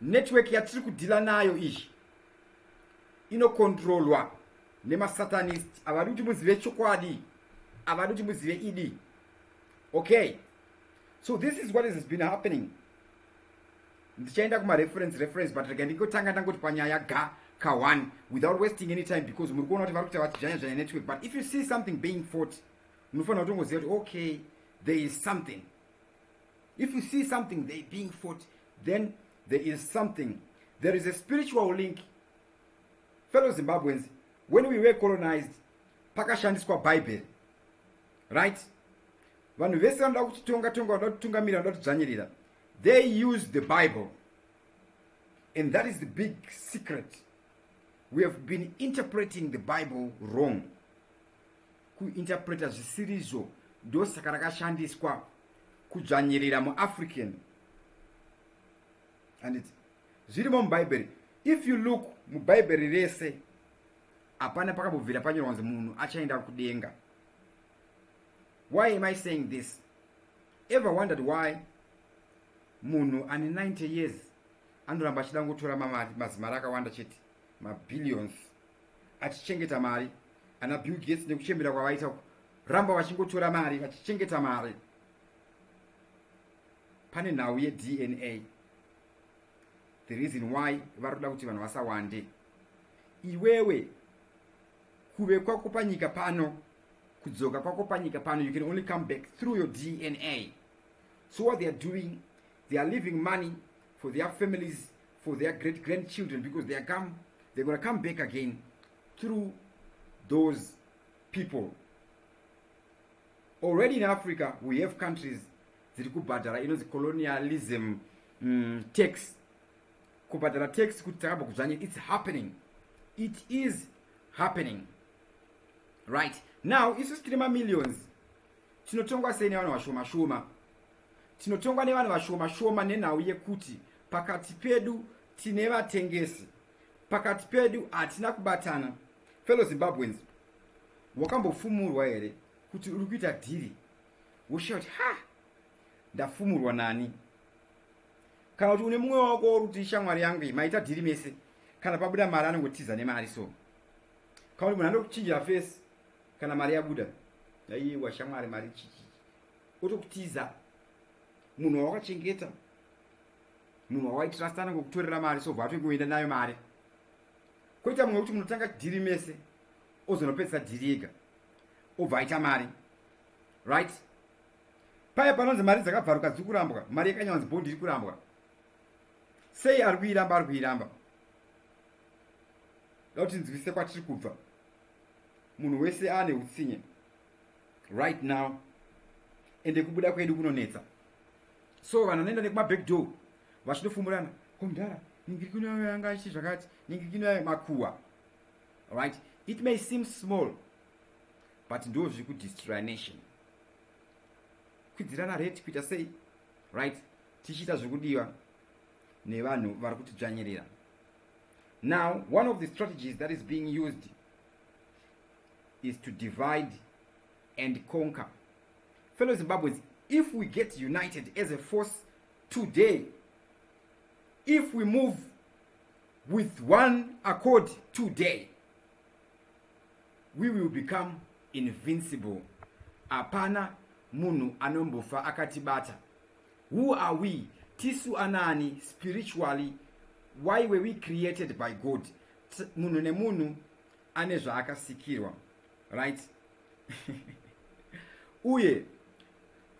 network yatiri kudhila nayo iyi inokontrolwa nemasatanist havadi kuti muzive chokwadi havadi kuti muzive idi okay so this is what has been happening ndichaenda kumareference reference but rega ndingotanga ndangoti panyaya ga ka one without wasting any time because muri kuona kuti vari kuita vati zvanya zvanya network but if you see something being fought munofanira kutongoziva kuti okay there is something If you see something they being fought, then there is something. There is a spiritual link. Fellow Zimbabweans, when we were colonized, pakashandiswa Bible. Right? Vanhu vese vanoda kutitonga tonga, vanoda kutungamira, vanoda kudzvanyirira. They use the Bible. And that is the big secret. We have been interpreting the Bible wrong. kuinterpreta zvisirizvo ndosaka rakashandiswa kudzvanyirira muafrican handiti zvirimo mubhaibheri if you look mubhaibheri rese hapana pakambobvira panyorwa kunzi munhu achaenda kudenga why am i saying this ever wondered why munhu ane 90 years anoramba achida kungotora mamari mazimari akawanda chete mabillions achichengeta mari ana bill gates nekuchembera kwavaita uku ramba vachingotora mari vachichengeta mari pane nhau yedna the reason why vari kuda kuti vanhu vasawande iwewe kuve kwako panyika pano kudzoka kwako panyika pano you can only come back through your dna so what they are doing they are leaving money for their families for their great grandchildren because they are come they're gonna come back again through those people already in africa we have countries dziri kubhadhara inonzi colonialism mm, tax kubhadhara tax kuti takabva kudzvanye its happening it is happening right now isu sitiri mamillions tinotongwa sei nevanhu vashoma shoma tinotongwa nevanhu vashoma shoma nenhau yekuti pakati pedu tine vatengesi pakati pedu hatina kubatana fellow zimbabweans wakambofumurwa here kuti uri kuita dhiri woshaya kuti ha ndafumurwa nani kana kuti une mumwe wako wori kuti shamwari yangu iyi maita dhiri mese kana pabuda mari anongotiza nemari so kana kuti munhu anokuchinjira fesi kana mari yabuda aiwa shamwari mari chichi otokutiza munhu wawakachengeta munhu wawaitrasta anenge kutorera mari so bvatwe kuenda nayo mari koita mumwe wekuti munotanga dhiri mese ozonopedzisa dhiri ega obva aita mari right paye panonzi mari dzakabvaruka dziri kurambwa mari yakanyanzi bond iri kurambwa sei ari kuiramba ari kuiramba da kuti nzivise kwatiri kubva munhu wese aane utsinye right now ende kubuda kwedu kunonetsa so vanhu vanoenda nekumaback door vachitofumurana komdhara ningirikino yayo yanga ichi zvakati ningirikino yayo makuwa right it may seem small but ndo zviri kudestroya nation kwidzirana rate kuita sei right tichiita zvekudiwa nevanhu vari kutidzvanyirira now one of the strategies that is being used is to divide and conquer fellow zimbabweans if we get united as a force today if we move with one accord today we will become invincible hapana munhu anombofa akatibata who are we tisu anaani spiritually why were we created by god munhu nemunhu ane zvaakasikirwa right uye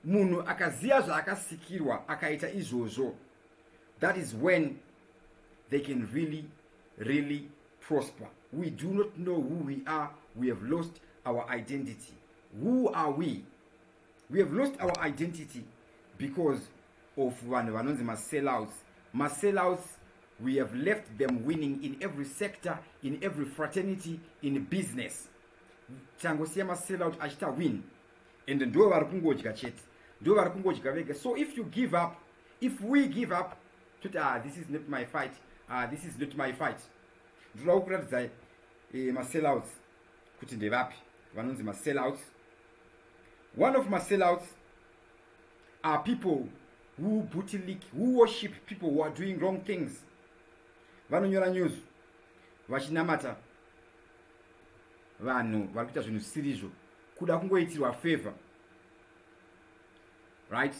munhu akaziva zvaakasikirwa akaita izvozvo that is when they can really really prosper we do not know who we are we have lost our identity who are we we have lost our identity because of vanhu vanonzi masellouts masellouts we have left them winning in every sector in every fraternity in business tangosiya masellout achiita win and ndo vari kungodya chete ndo vari kungodya vega so if you give up if we give up toti ah this is not my fight ah this is not my fight ndoda kukuratidzai eh, masellouts kuti ndevapi vanonzi masellouts one of masellouts are people who booty leak who worship people who are doing wrong things vanonyora news vachinamata vanhu vari kuita zvinhu zvisirizvo kuda kungoitirwa favor right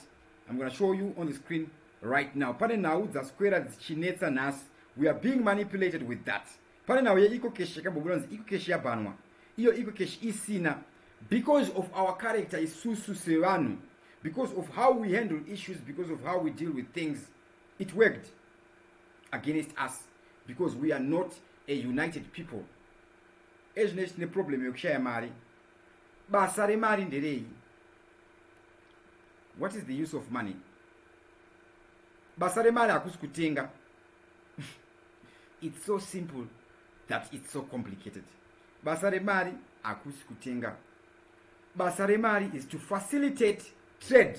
i'm gonna show you on the screen right now pane nhau dzaswera dzichinetsa nhasi we are being manipulated with that pane nhau yeecocash yakambobuda nzi ecocash yabhanwa iyo ecocash isina because of our character isusu sevanhu because of how we handle issues because of how we deal with things it worked against us because we are not a united people ezvine tine problem yekushaya mari basa remari nderei what is the use of money basa remari hakusi kutenga it's so simple that it's so complicated basa remari hakusi kutenga basa remari is to facilitate trade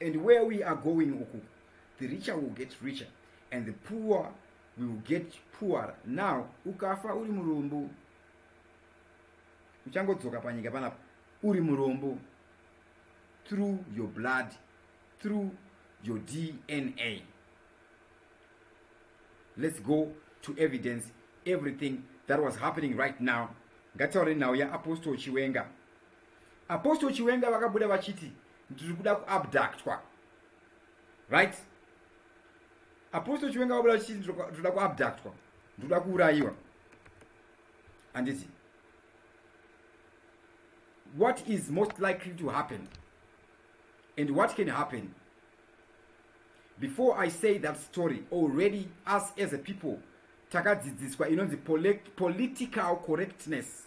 and where we are going uku the richer will get richer and the poor will get poorer now ukafa uri murombo uchangodzoka panyika panapa uri murombo through your blood through your dna let's go to evidence everything that was happening right now ngataure nhau yaapostle chiwenga Apostle Chiwenga vakabuda vachiti ndiri kuda kuabductwa. Right? Apostle Chiwenga vakabuda vachiti ndiri kuda kuabductwa. Ndiri kuda kuurayiwa. Anditi. What is most likely to happen? And what can happen? Before I say that story, already us as a people takadzidziswa inonzi political correctness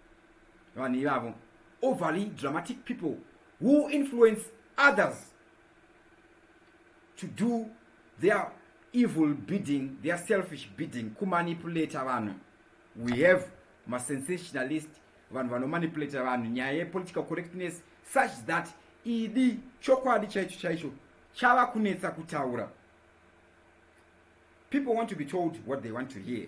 vanhu ivavo overly dramatic people who influence others to do their evil bidding their selfish bidding kumanipulata vanhu we have masensationalist vanhu vanomanipulata vanhu nyaya yepolitical correctness such that idi chokwadi chaicho chaicho chava kunetsa kutaura people want to be told what they want to hear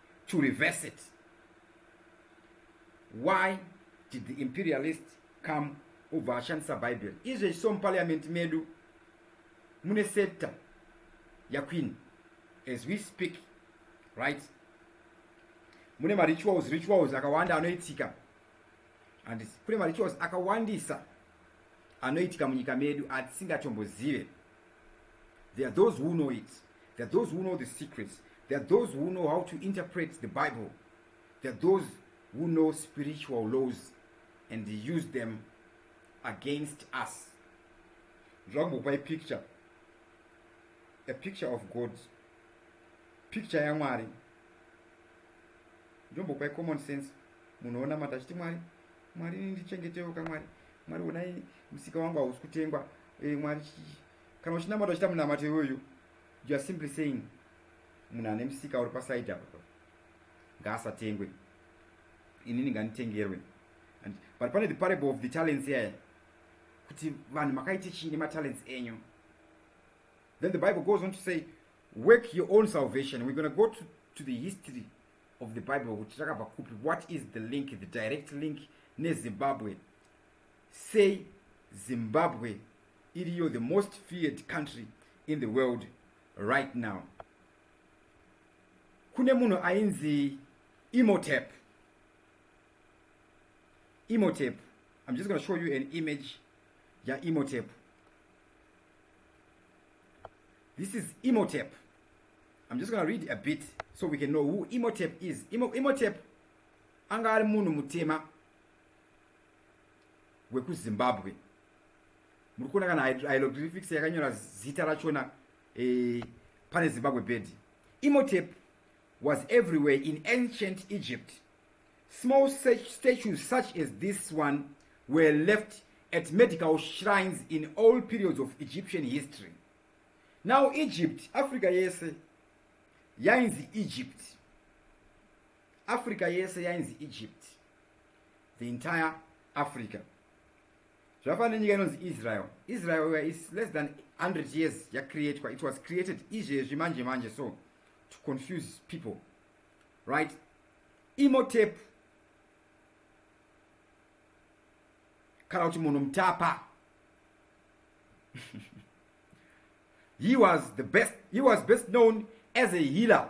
to reverse it why did the imperialist come obva ashandisa bible izvezvi so muparliament medu mune sector yaqueen as we speak right mune marituals rituals akawanda anoitika and kune marituals akawandisa anoitika munyika medu atisingachombozive There are those who know it. There are those who know the secrets. There are those who know how to interpret the Bible. There are those who know spiritual laws and use them against us. Drug by picture. A picture of God. Picture ya Mwari. Jumbo by common sense. Munoona matachiti Mwari. Mwari ndichengetewo kamwari. Mwari unai msika wangu hausi kutengwa. Eh, mwari kana uchinamata uchita munamato iwoyo you are simply saying munhu ane musika uri pasaidi apa ngaasatengwe inini nganitengerwe and but pane the parable of the talents here kuti vanhu makaite chii nematalents enyu then the bible goes on to say work your own salvation we're gonna go to, to the history of the bible kuti takabva kupi what is the link the direct link nezimbabwe sei zimbabwe iriyo the most feared country in the world right now kune munhu ainzi imotep imotep i'm just going to show you an image yaimotep this is imotep i'm just going to read a bit so we can know who imotep is Imo, imotep anga ari munhu mutema wekuzimbabwe muri kuona kana hyloglyphics yakanyora zita rachona eh, pane zimbabwe bed imotep was everywhere in ancient egypt small statues such as this one were left at medical shrines in all periods of egyptian history now egypt africa yese yainzi egypt africa yese yainzi egypt the entire africa zvafana nenyika inonzi israel israel is less than 100 years yacreatwa it was created izvezvi manje manje so to confuse people right imotep kana kuti munhu mutapa he was the best he was best known as a healer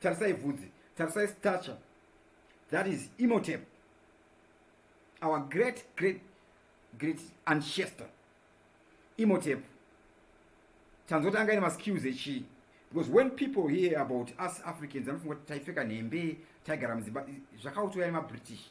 tarisai vhudzi tarisai stature that is imotep our great great great ancestor imotep tanzoti anga ine maskills echii because when people hear about us africans vanofunga kuti taipfeka nhembe taigara mudzimba zvakautoya nemabritish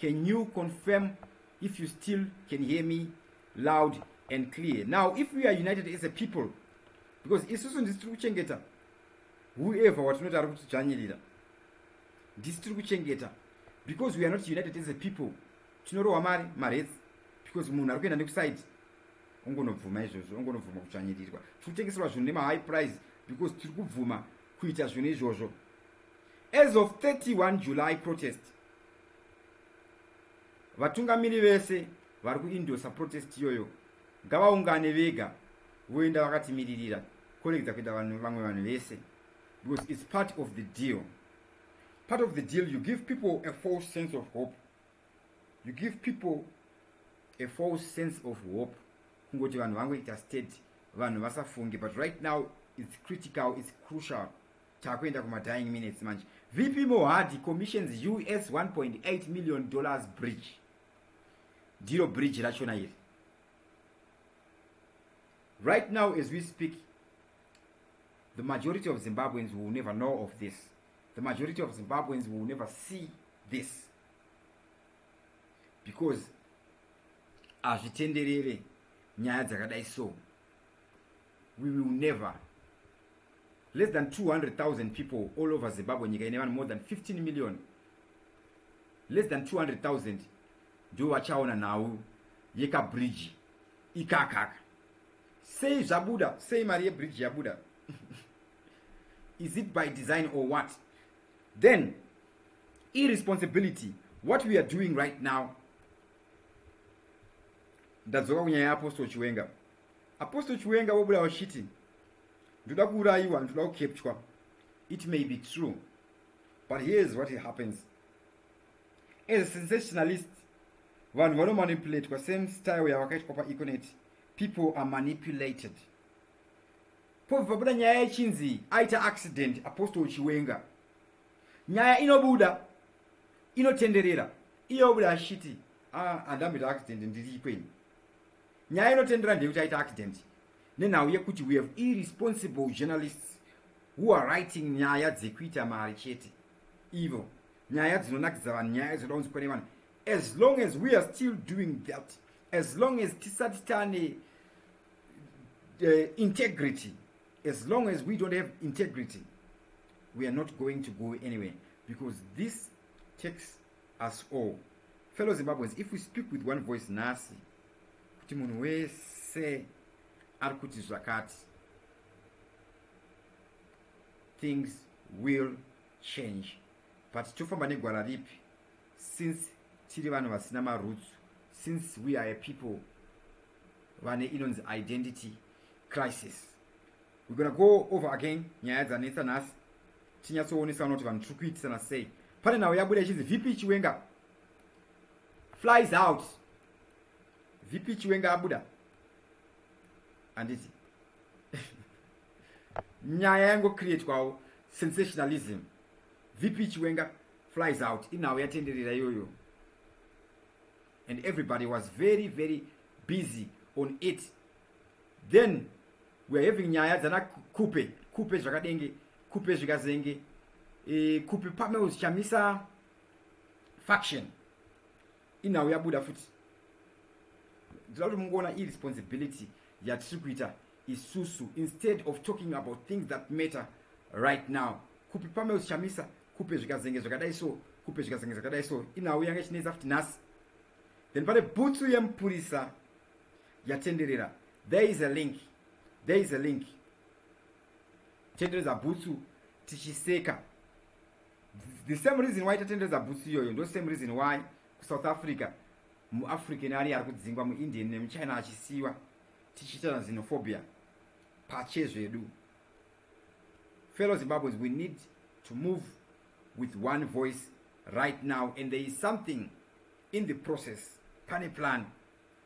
can you confirm if you still can hear me loud and clear now if we are united as a people because isusu ndisi tiri kuchengeta whoever watinoti ari kutidzvanyirira ndisi tiri kuchengeta because we are not united as a people tinorohwa mari maretsi because munhu ari kuenda nekusaid ongonobvuma izvozvo ongonobvuma kutsvanyirirwa tiri kutengeserwa zvinhu nemahigh price because tiri kubvuma kuita zvinhu izvozvo As of 31 July protest, vatungamiri vese vari kuindosa protest iyoyo ngavaungane vega voenda vakatimiririra kuregedza kuita vanhu vamwe vanhu vese because it's part of the deal part of the deal you give people a false sense of hope you give people a false sense of hope kungoti vanhu vangoita state vanhu vasafunge but right now it's critical it's crucial takuenda kuma dying minutes manje vp mohadi commissions us 1.8 million dollars bridge ndiro bridge rachona iri right now as we speak the majority of zimbabweans will never know of this the majority of zimbabweans will never see this because hazvitenderere nyaya dzakadai so we will never less than 200,000 people all over Zimbabwe nyika ine vanhu more than 15 million less than 200,000 ndivo vachaona nhau yekabridge ikakaka sei zvabuda sei mari yebridge yabuda is it by design or what then irresponsibility what we are doing right now ndadzoka kunyaya yeapostle chiwenga apostle chiwenga vobuda vachiti ndoda kuurayiwa ndoda kukepchwa it may be true but here is what it happens as a sensationalist vanhu vanomanipulatwa same style yavakaitwa paeconet people are manipulated pobva pabuda nyaya yechinzi aita accident apostle chiwenga nyaya inobuda inotenderera iye obuda achiti ah, andamboita accident ndiri ikweni nyaya inotendera ndeyekuti aita accident nenhau yekuti we have irresponsible journalists who are writing nyaya dzekuita mari chete ivo nyaya dzinonakidza vanhu nyaya dzoda kunzi kwane vanhu as long as we are still doing that as long as tisati tane uh, integrity as long as we don't have integrity we are not going to go anywhere because this takes us all fellow zimbabweans if we speak with one voice nasi kuti munhu wese ari kuti zvakati things will change but tofamba negwara ripi since tiri vanhu vasina maroots since we are a people vane inonzi identity crisis we're gonna go over again nyaya dzanetsa nhasi tinyatsoonesa vanoti vanhu tiri kuitisana sei pane nhau yabuda ichinzi vp chiwenga flies out vp chiwenga abuda handiti nyaya yangocreatwawo sensationalism vp chiwenga flies out inhau yatenderera iyoyo and everybody was very very busy on it then weare having nyaya dzana kupe kupe zvakadenge kupe zvikazenge e, kupe pamwe uchichamisa faction inhau yabuda futi ndoda kuti mungoona iresponsibility yatiri kuita isusu instead of talking about things that matter right now kupi pameo zichamisa kupe zvikazenge zvakadai so kupe zvikazenge zvakadai so inhau yanga ichinetsa futi nhasi then pane bhutsu yemupurisa yatenderera there is a link there is a link tendereza bhutsu tichiseka the same reason why tatenderedza bhutsu iyoyo ndo same reason why kusouth africa muafrican ari ari kudzingwa muindian nemuchina achisiwa tichiitana xenophobia pache zvedu fellow zimbabweans we need to move with one voice right now and there is something in the process pane plan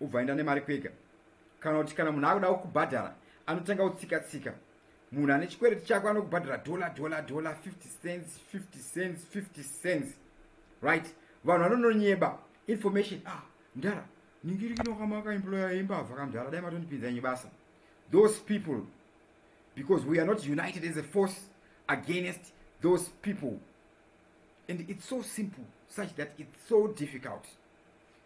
ubva enda nemari kwega kana kuti kana munhu akuda kukubhadhara anotanga kutsika tsika munhu ane chikwereti chako anokubhadhara dollar dollar dollar 50 cents 50 cents 50 cents right vanhu vanononyeba information ah mdara ningiri kinokamaka imploya yembavha kamdara dai matondipinza nyi basa those people because we are not united as a force against those people and it's so simple such that it's so difficult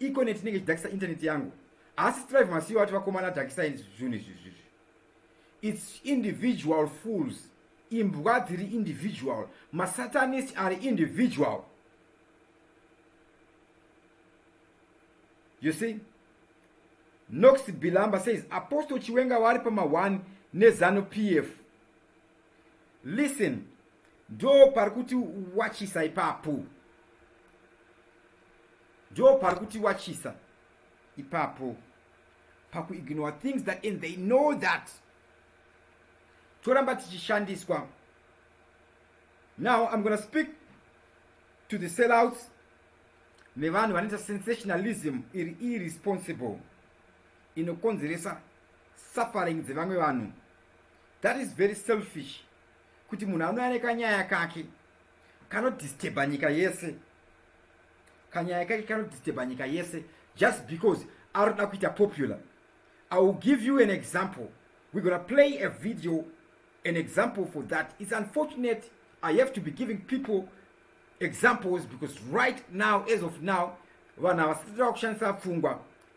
Econet inenge ichidhakisa internet yangu. Asi strive masiyo ati vakomana dhakisa izvi zvinhu izvi izvi. It's individual fools. Imbwa dziri individual. Masatanist ari individual. You see? Nox Bilamba says Apostle Chiwenga vari pama 1 nezanu PF. listen ndo pari kuti wachisa ipapo ndo pari kuti wachisa ipapo pakuignore things that and they know that toramba tichishandiswa now i'm gonna speak to the sellouts nevanhu vanoita sensationalism iri irresponsible inokonzeresa suffering dzevamwe vanhu that is very selfish kuti munhu anouya nekanyaya kake kanodisteba nyika yese kanyaya kake kanodisteba nyika yese just because ari kuda kuita popular i will give you an example we're gonna play a video an example for that it's unfortunate i have to be giving people examples because right now as of now vanhu havasitira kushandisa pfungwa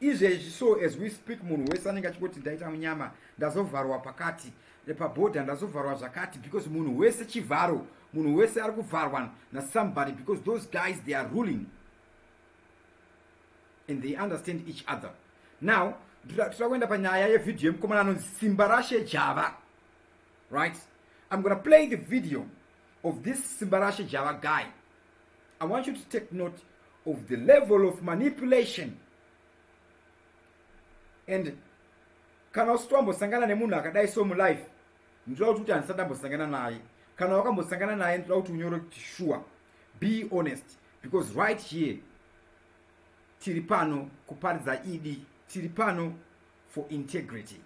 izvezvi so as we speak munhu wese anenge achingoti ndaita munyama ndazovharwa pakati eh, pabhodha ndazovharwa zvakati because munhu wese chivharo munhu wese ari kuvharwa nasomebody because those guys they are ruling and they understand each other now tira kuenda panyaya yevhidhiyo yemukomana anonzi simba rashe java right i'm gona play the video of this simba rashe java guy i want you to take note of the level of manipulation and kana usiti wambosangana nemunhu akadai so mulife ndinoda kuti kuti handisati ambosangana naye kana wakambosangana naye ndinoda kuti unyore kuti sure be honest because right here tiri pano kuparidza idi e tiri pano for integrity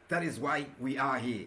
that is why we are here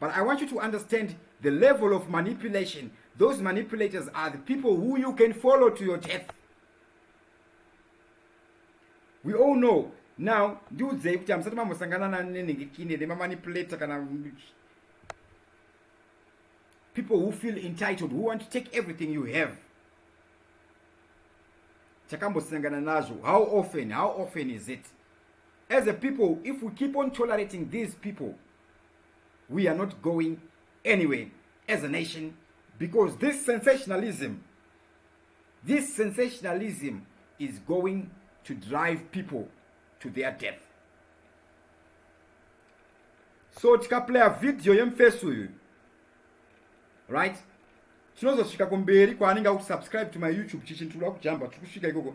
But I want you to understand the level of manipulation. Those manipulators are the people who you can follow to your death. We all know now ndiudzei kuti hamusati mambosangana nanenengekine nemamanipulator kana people who feel entitled who want to take everything you have takambosangana nazvo how often how often is it as a people if we keep on tolerating these people we are not going anywhere as a nation because this sensationalism this sensationalism is going to drive people to their death so tikaplaya vhidhiyo yemufesi uyu right tinozosvika kumberi kwaanenge akuti subscribe to my youtube chichintuda kujamba tiri kusvika ikoko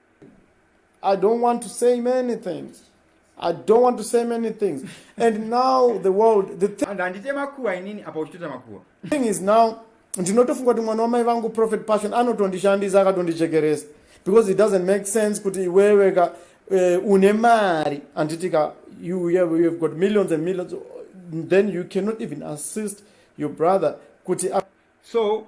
I don't want to say many things. I don't want to say many things. And now the world, the thing, thing is now, ndinotofunga kuti mwana wamai vangu prophet passion anotondishandisa akatondichekeresa because it doesn't make sense kuti iwewe ka uh, une mari handiti ka you have, you have got millions and millions then you cannot even assist your brother kuti so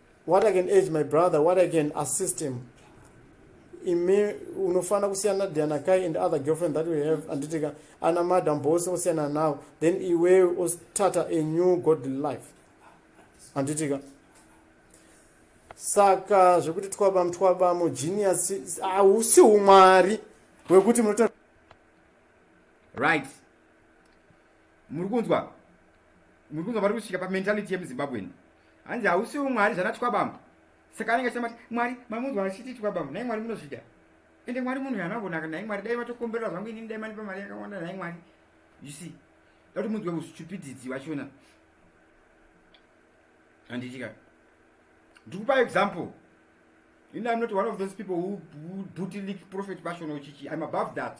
what i can urge my brother what i can assist him imi unofanira kusiyana diana kai and other girlfriend that we have anditika ana madam bose osiyana nawo then iwe ostata a new god life anditika saka zvekuti twaba mutwaba mugenius hausi umwari wekuti munoto right muri kunzwa muri kunzwa vari kusvika pamentality yemuzimbabwen hanzi hausiwo mwari zvana twabamba saka anenge achita mati mwari mamunzwa achiti twabamba nai mwari munozvida ende mwari munhu yanavonaka nai mwari dai vatokomberera zvangu inini dai manipa mari yakawanda nai mwari you see dati munzwe ustupidity wachona handitika ndikupa example ini am not one of those people who, who booty leak prophet passion ochichi im above that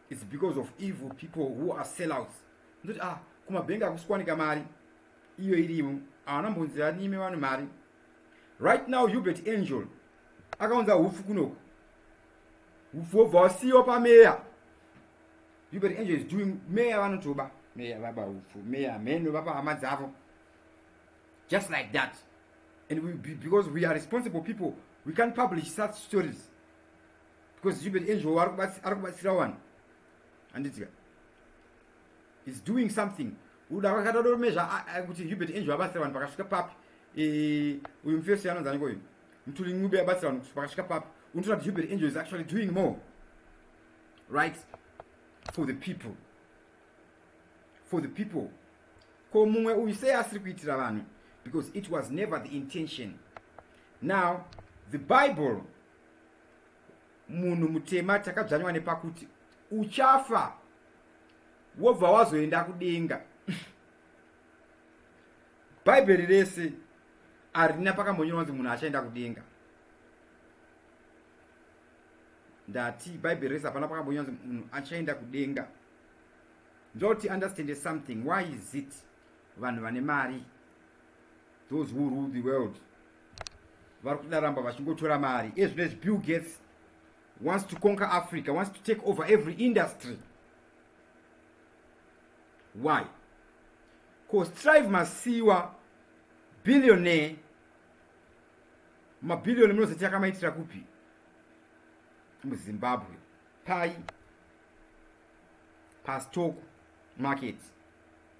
its because of evil people who are sellouts ndoti ah kumabhengi akusikwanika mari iyo irimo havana mbonzi vanime vane mari right now hubert angel akaunza hupfu kunoku hupfu wobva wasiyiwa pameya hubert angel is doing meya vanotoba meya vaba hupfu meya mheno vapa hama dzavo just like that and we, because we are responsible people we can't publish such stories because jubert enjowo ari kubatsira wani handitika is doing something uda kwakatadomezva kuti jubert enjowo abatsira vanhu pakasvika papi e, uyu mufesi anonzani koyu mtuli ncube abatsira vanhu pakasvika papi unotoona kuti jubert enjowo is actually doing more right for the people for the people ko mumwe uyu sei asiri kuitira vanhu because it was never the intention now the bible munhu mutema takadzvanywa nepakuti uchafa wobva wazoenda kudenga bhaibheri rese harina pakambonyorwa kunzi munhu achaenda kudenga ndati bhaibheri rese hapana pakambonyorwa kunzi munhu achaenda kudenga ndoti understand something why is it vanhu vane mari those who rule the world vari kutinaramba vachingotora mari ezvinezvi bill gates wants to conquer africa wants to take over every industry why bcause trive masiwa billionaire mabhiliyoni munozoti akamaitira kupi muzimbabwe pai pastock market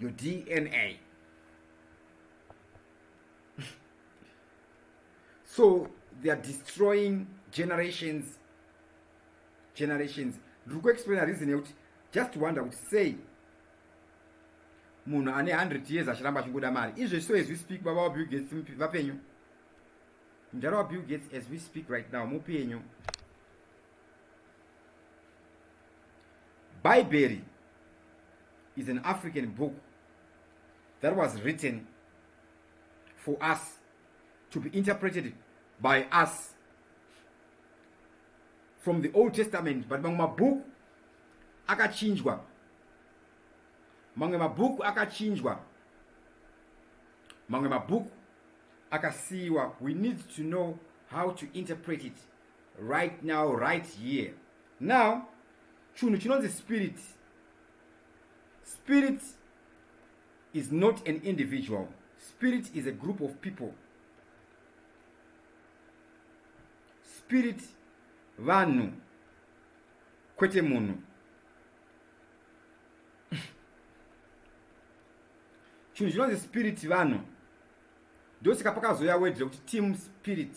your dna so they are destroying generations generations ndiri kuexplaina reason yekuti just wonder kuti sei munhu ane 100 years achiramba achingoda mari izvo so as we speak baba wabill gates vapenyu mudhara wabill gates as we speak right now mupenyu bhaibheri is an african book that was written for us to be interpreted by us from the old testament but mamwe mabhuku akachinjwa mamwe mabhuku akachinjwa mamwe mabhuku akasiyiwa we need to know how to interpret it right now right here now chunhu chinonzi spirit spirit is not an individual spirit is a group of people spirit vanhu kwete munhu chinhu chinonzi spirit vanhu ndosaka pakazouya wedre kuti team spirit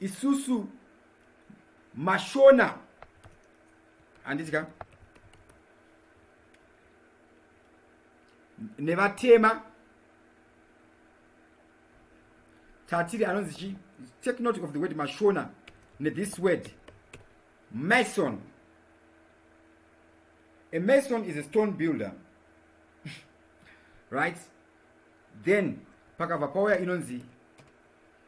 isusu mashona handiti ka nevatema tatiri anonzi chi take note of the word mashona nethis word mason a mason is a stone builder right then pakabva pauya inonzi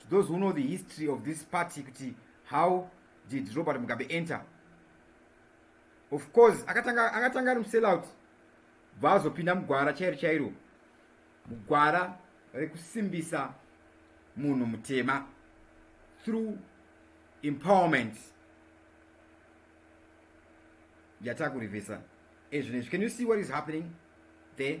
to those who know the history of this party kuti how did robert mugabe enter of course akatanga akatanga ari musellout bva azopinda mugwara chairo chairo mugwara rekusimbisa munhu mutema through empowerment yatakurivhesa ezvinezvi can you see what is happening there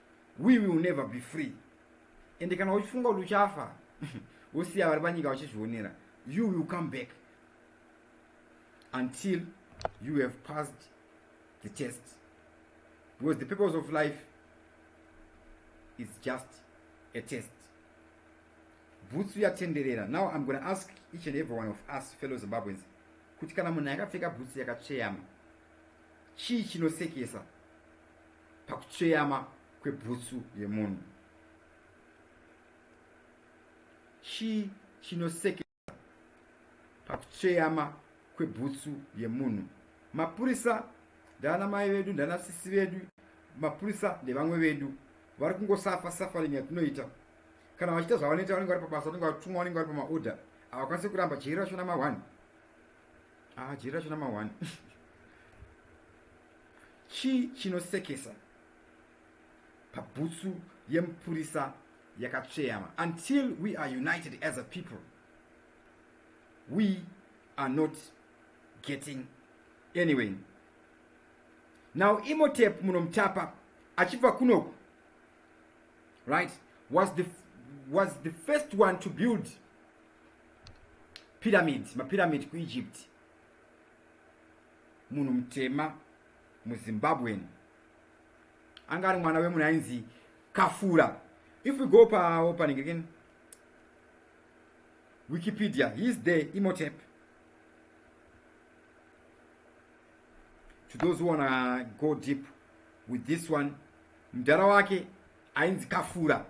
we will never be free ende kana uchifunga kuti uchafa wosiya vari panyika vachizvionera you will come back until you have passed the test because the purpose of life is just a test bhutsu yatenderera now i'm gonna ask each and every one of us fellow zimbabweans kuti kana munhu akapfeka bhutsu yakatsveyama chii chinosekesa pakutsveyama kwebhutsu yemunhu chii chinosekesa pakutsveyama kwebhutsu yemunhu mapurisa ndana mai vedu ndana sisi vedu mapurisa ndevamwe vedu vari kungosafa suffering yatinoita kana vachiita zvavanoita vanenge vari pabasa vanenge vatumwa vanenge vari pamaorder havakwanisi kuramba jeri racho nama one aa ah, jeri racho nama one Chii chinosekesa pabhutsu yemupurisa yakatsveyama? Until we are united as a people, we are not getting anyway. Now Imhotep munomutapa achibva kunoku right was the, was the first one to build pyramid mapyramid kuegypt munhu mutema muzimbabwean anga ari mwana wemunhu ainzi kafura if we go paopening again wikipedia he is there imotep to those who wanna go deep with this one mdhara wake ainzi kafura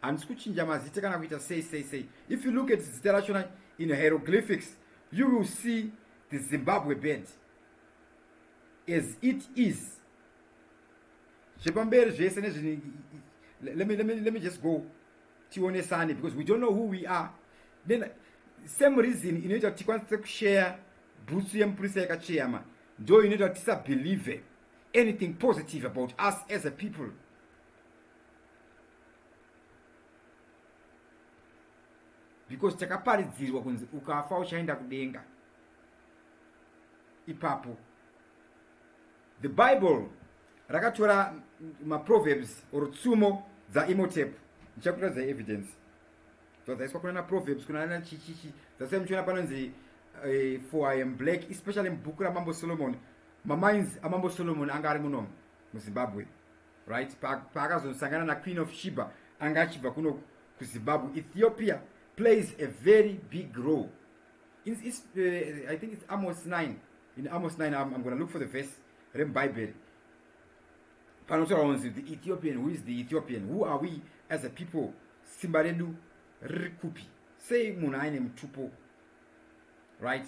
handisi kuchinja mazita kana kuita sei sei sei if you look at zita rachona in hieroglyphics you will see the zimbabwe bed as it is zvepamberi zvese nezvine let me, let me, let me just go tionesane because we don't know who we are then same reason inoita kuti tikwanise kushare bhutsu yemupurisa yakacheyama ndo inoita kuti tisabelieve anything positive about us as a people because takaparidzirwa kunzi ukafa uchaenda kudenga ipapo the bible rakatora maproverbs or tsumo dzaimotep ndichakuratidza evidence zvadzaiswa kuna naproverbs kuna na chichichi dzasai muchiona panonzi uh, for i am black especially mubhuku ramambo solomon mamainzi amambo solomon anga ari muno muzimbabwe right paakazosangana naqueen of shiba anga achibva kuno kuzimbabwe ethiopia plays a very big role it's, it's, uh, i think it's amos 9 in amos 9 i'm, I'm gonna look for the verse remubhaibheri panotaura kunzi the ethiopian who is the ethiopian who are we as a people simba redu riri kupi sei munhu aine mutupo right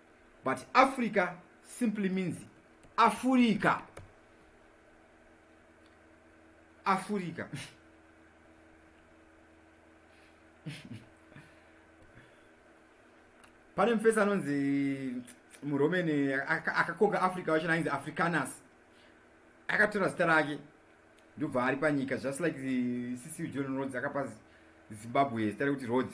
but africa simply means afurika afurika pane mufesi anonzi muromeni akakoka africa wacho nainzi africanus akatora zita rake ndobva ari panyika just like ccu john rods akapa zimbabwe zita rekuti rods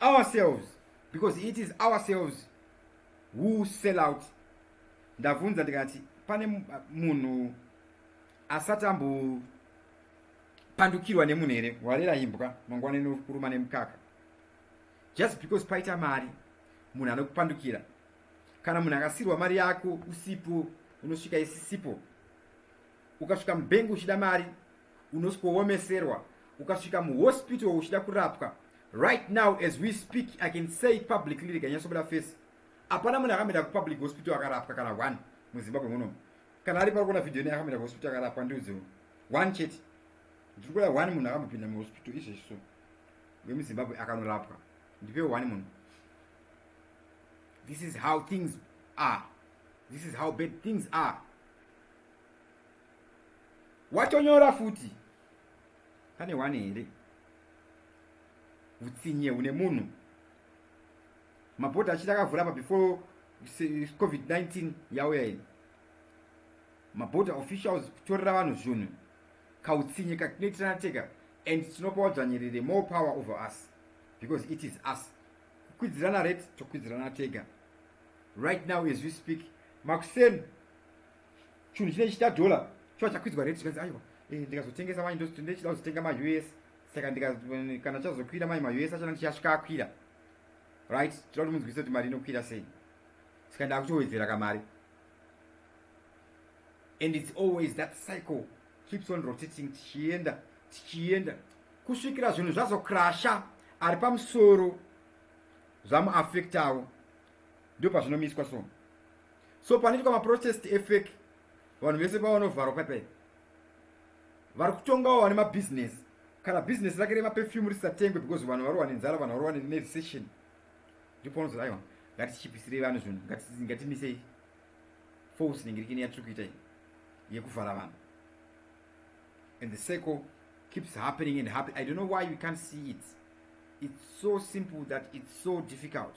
ourselves because it is ourselves who sell out ndavunza ndikati pane munhu asati ambopandukirwa nemunhu here warera imbwa mangwana inokuruma nemukaka just because paita mari munhu anokupandukira kana munhu akasirwa mari yako usipo unosvika isisipo ukasvika mubengi uchida mari unoswoomeserwa ukasvika muhospital uchida kurapwa right now as we speak i can say it publicly reganyasobuda face hapana munhu akamboenda kupublic hospital akarapwa kana one muzimbabwe munomu kana ari parikuona video ne akamboenda kuhospital akarapwa ndiudziwo one chete ndiri kuda one munhu akambopinda muhospital izvezvi so wemuzimbabwe akanorapwa ndipe one munhu this is how things are this is how bad things are watonyora futi pane one here utsinye une munhu mabhodha achiti akavhura apa before covid-19 yauya iyi mabhodha officials kutorera vanhu zvunhu kautsinye katinoitirana tega and tinopa wadzvanyirire more power over us because it is us kukwidzirana rate tokwidzirana tega right now as we speak makuseni chunhu chine chita dollar chiva chakwidzwa rate chikanzi aiwa eh, ndikazotengesa manje ndochida kuzotenga maus saka kana chazokwira manje maus acho anenge chichasvika akwira right tinoda kuti munzwise kuti mari inokwira sei saka ndakutowedzera kamari and its always that cycle keeps on rotating tichienda tichienda kusvikira zvinhu zvazokrasha ari pamusoro zvamuafektawo ndio pazvinomiswa so so panoitwa maprotest efake vanhu vese pavanovharwa paipai vari kutongawo vane mabusiness kana business rake remapefum risatengwe because vanhu varowa nenzara vanhu varowa nerecession ndipo unozoda aiwa ngatichipisirei vanhu zvinhu ngatimisei force ningirikini yatiri kuita iyi yekuvhara vanhu and the circle keeps happening and happen i don't know why we can't see it it's so simple that it's so difficult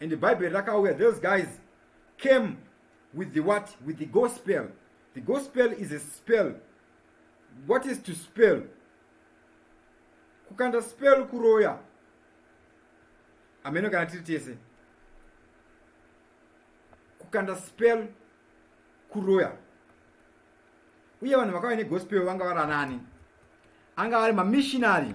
and bhaibheri rakauya those guys came with the what with the gospel the gospel is a spell what is to spell kukanda spell kuroya ameno kana tiri tese kukanda spell kuroya uye vanhu vakauya negospel vanga vari anani anga vari mamishinary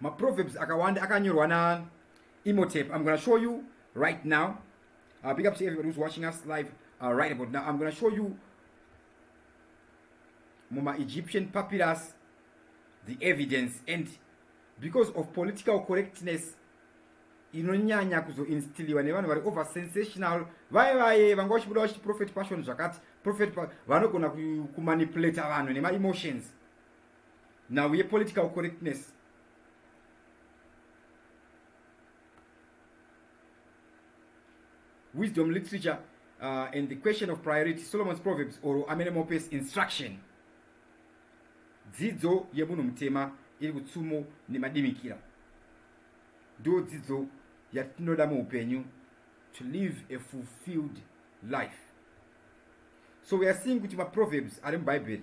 maproverbs akawanda akanyorwa na imotep i'm gonna show you right now uh, big up to everybody who's watching us live uh, right about now i'm gonna show you muma egyptian papyrus the evidence and because of political correctness inonyanya kuzoinstiliwa nevanhu vari over sensational vaye vaye vanga vachibuda vachiti prophet passion zvakati prophet vanogona kumanipulata vanhu nemaemotions nhau yepolitical correctness wisdom literature uh, and the question of priority solomon's proverbs or amene mopes instruction dzidzo yemunhu mutema iri kutsumo nemadimikira ndo dzidzo yatinoda muupenyu to live a fulfilled life so we are seeing kuti maproverbs ari mubhaibheri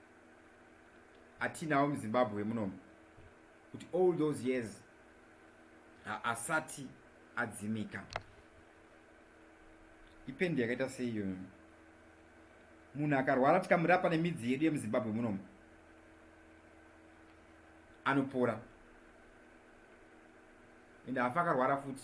atinawo muzimbabwe munomu kuti all those years haasati adzimika ipendi yakaita seiyo munhu akarwara tikamurapa nemidzi yedu yemuzimbabwe munomu anopora ende hafa akarwara futi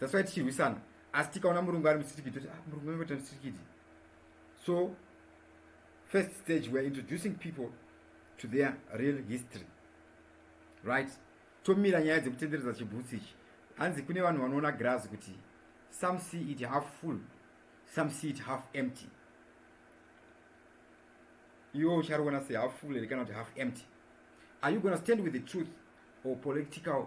that's why tichirwisana asi tikaona murungu ari musitikiti toti ah, murungu angoita musitikiti so first stage weare introducing people to their real history right tomira nyaya dzekutenderedza chibhutsi ichi hanzi kune vanhu vanoona grazi kuti some see it half full some see it half empty iwo uchariona se half full here kana kuti half empty are you gona stand with the truth or political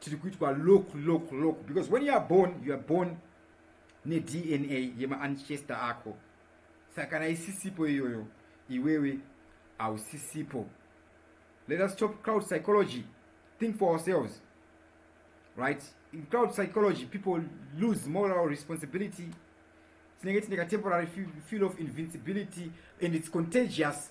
tiri kuitwa lock lock lock because when you are born you are born nedna yemaancestor ako saka kana isisipo iyoyo iwewe hausisipo let us stop crowd psychology think for ourselves right in crowd psychology people lose moral responsibility tinenge tine katemporary feel of invincibility and its contagious